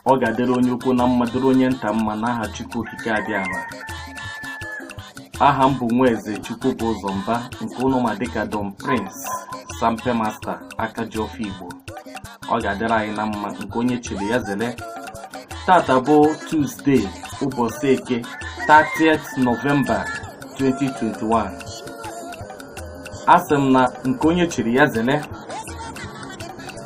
ọ ga-adịrị onye ukwu na mma dịrị onye nta mma n'aha Chukwu Okike Abịama aha m bụ Nwaeze Chukwubụzọ Mba nke ụnụ ma dịka Don Prince Sampe Master aka ji ọfọ Igbo ọ ga-adịrị anyị na mma nke onye chiri ya zele tata bụ Tuzdee ụbọchị eke 30th Nọvemba 2021 asị m na nke onye chiri ya zele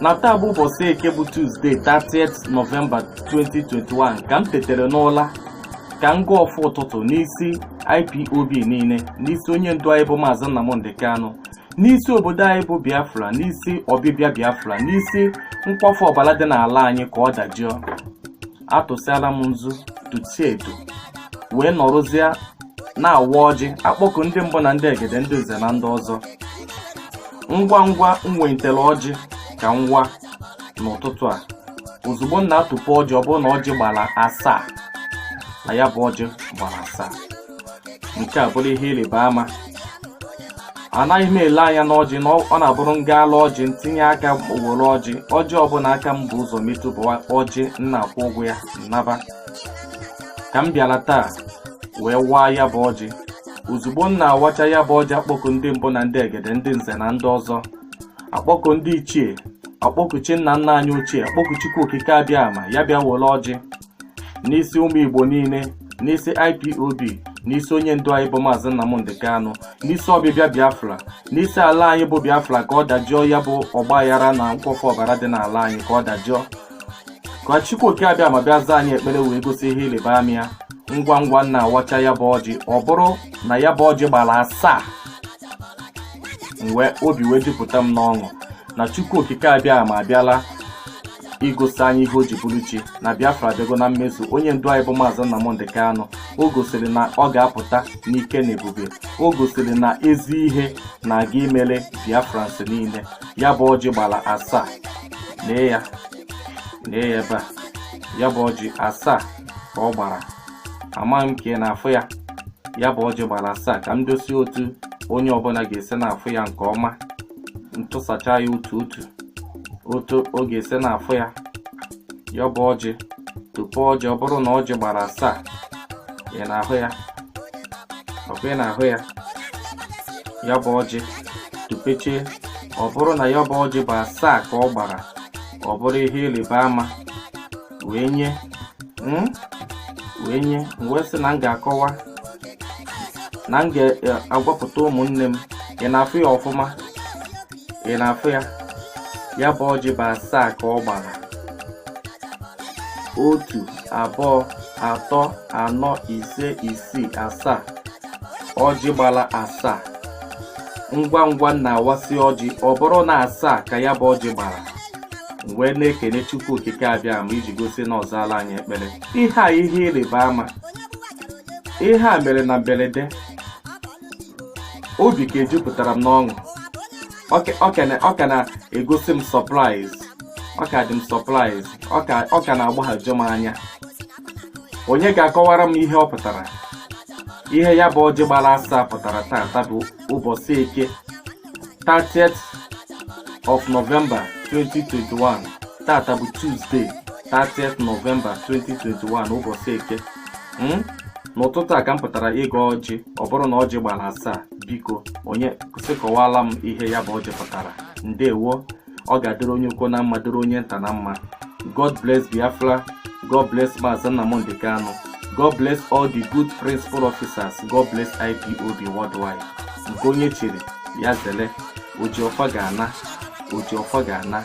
na taa bụ ụbọchị eke bụ tuzdee 30th nọvemba 2021 ka m tetere n'ụla ka m gọọ ọfọ ụtụtụ n'isi ipob niile n'isi onye ndu anyị bụ maazị nnamdị kanụ n'isi obodo anyị bụ biafra n'isi ọbịbịa biafra n'isi nkwafu ọbara dị n'ala anyị ka ọ dajụọ atụsịala m nzu tutie edo wee nọrọzie na-awa ọjị akpọku ndị mbụ na ndị egede ndị nze na ndị ọzọ ngwa ngwa m welitere ọjị ka m waa n'ụtụtụ a ozugbo m na-atụpụ ọjị ọ bụrụ na ọjị gbara asaa na ya bụ ọjị gbara asaa nke a bụrụ ihe ịrịba ama anaghị m ele anya n'ọjị na ọ na-abụrụ m gaa lụọ ọjị m tinye aka were ọjị ọjị ọbụla aka m bu ụzọ metụ bụ ọjị m na-akwụ ụgwọ ya m naba ka m bịara taa wee waa ya bụ ọjị ozugbo m na-awacha ya bụ ọjị akpọku ndị mbụ na ndị egede ndị nze na ndị ọzọ akpọku ndị ichie akpọku chi nna nna anyị ochie akpọku chukwu okike abịama ya bịa were ọjị n'isi ụmụ igbo niile n'isi ipob n'isi onye ndu anyị bụ maazị nnamdị kanụ n'isi ọbịbịa biafra n'isi ala anyị bụ biafra ka ọ dajụọ ya bụ ọgbaghara na nkwafu ọbara dị n'ala anyị ka ọ dajụọ ka chukwu oke abịama bịa zaa anyị ekpere wee gosi ihe ịrịba ama ya ngwa ngwa m na-awacha ya bụ ọjị ọ bụrụ na ya bụ ọjị gbara asaa mgbe obi wee jupụta m n'ọṅụ na chukwu okike abịama abịala igosi anyị ihe o ji bụrụ chi na biafra adịgo na mmezu onye ndu anyị bụ maazị nnamdị kanụ o gosiri na ọ ga-apụta n'ike na ebube o gosiri na ezi ihe na-aga imere biafrans niile ya bụ ọjị gbara asaa lee ya lee ya ebe a ya bụ ọjị asaa ka ọ gbara amaghị m ka ị na-afụ ya ya bụ ọjị gbara asaa ka m dosie otu onye ọbụla ga-esi na-afụ ya nke ọma m tụsacha ya otu otu otu ọ ga-esi na-afụ ya ya bụ ọjị tupe ọjị ọ bụrụ na ọjị gbara asaa ị na-ahụ ya ọkwa ị na-ahụ ya ya bụ ọjị tupechaa ọ bụrụ na ya bụ ọjị bụ asaa ka ọ gbara ọ bụrụ ihe ịrịba ama wee nye mm, wee nye m wee sị na m ga-akọwa na m ga-agwapụta ụmụnne m ị na-afụ ya ọfụma ị na-afụ ya ya bụ ọjị bụ asaa ka ọ gbara otu abụọ atọ anọ ise isii asaa ọjị gbara asaa ngwa ngwa m na-awasị ọjị ọ bụrụ na asaa ka ya bụ ọjị gbara wee na-ekene chukwu okike abịama iji gosi na ọ zaala anyị ekpere ihe a ihe ịrịba ama ihe a mere na mberede obi ka ejupụtara m n'ọṅụ ọ ka na-egosi m surprise ọ ka dị m surprise ọ ka na-agbaghaju m anya onye ga-akọwara m ihe ọ pụtara ihe ya bụ ọjị gbara asaa pụtara taata bụ ụbọchị eke 30th of November 2021 taata bụ Tuesday 30th November 2021 ụbọchị eke hmm? n'ụtụtụ a ka m pụtara ịgọ ọjị ọ bụrụ na ọjị gbara asaa biko onye sị kọwala m ihe ya bụ ọjị pụtara ndewo ọ ga-adịrị onye ukwu na mma dịrị onye nta na mma god bless biafra god bless maazị nnamdi kanu god bless all the good principal officers god bless ipob worldwide nke onye chiri ya zele oji ọfọ ga-ana oji ọfọ ga-ana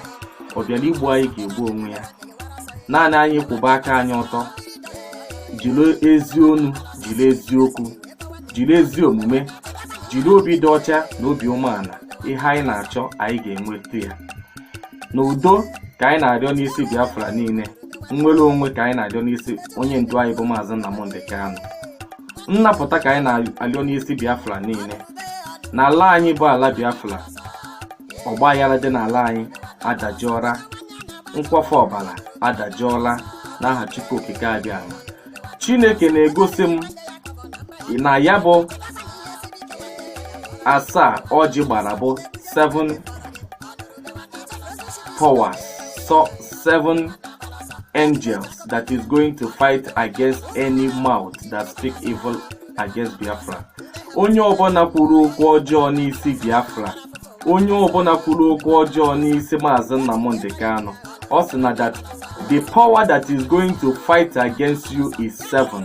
ọ bịara igbu anyị ga-egbu onwe ya naanị anyị kwụba aka anyị ọtọ jiri ezi onu jiri eziokwu jiri ezi omume jiri obi dị ọcha na obi umeala ihe anyị na-achọ anyị ga-enweta ya na udo ka anyị na-arịọ n'isi biafra niile nnwere onwe ka anyị na-arịọ n'isi onye ndu anyị bụ maazị nnamdi kanu nnapụta ka anyị na-arịọ n'isi biafra niile n'ala anyị bụ ala biafra ọgba aghara dị n'ala anyị adajụọla nkwafu ọbara adajụọla n'aha chukwu okike abịama chineke na-egosi m na ya bụ asaa ọjị gbara bụ 7 powers so 7 angels that is going to fight against any mouth that speak evil against biafra onye ọbụla kwuru okwu ọjọọ n'isi biafra onye ọbụla kwuru okwu ọjọọ n'isi maazị Nnamdi Kanu ọ sị na that the power that is going to fight against you is seven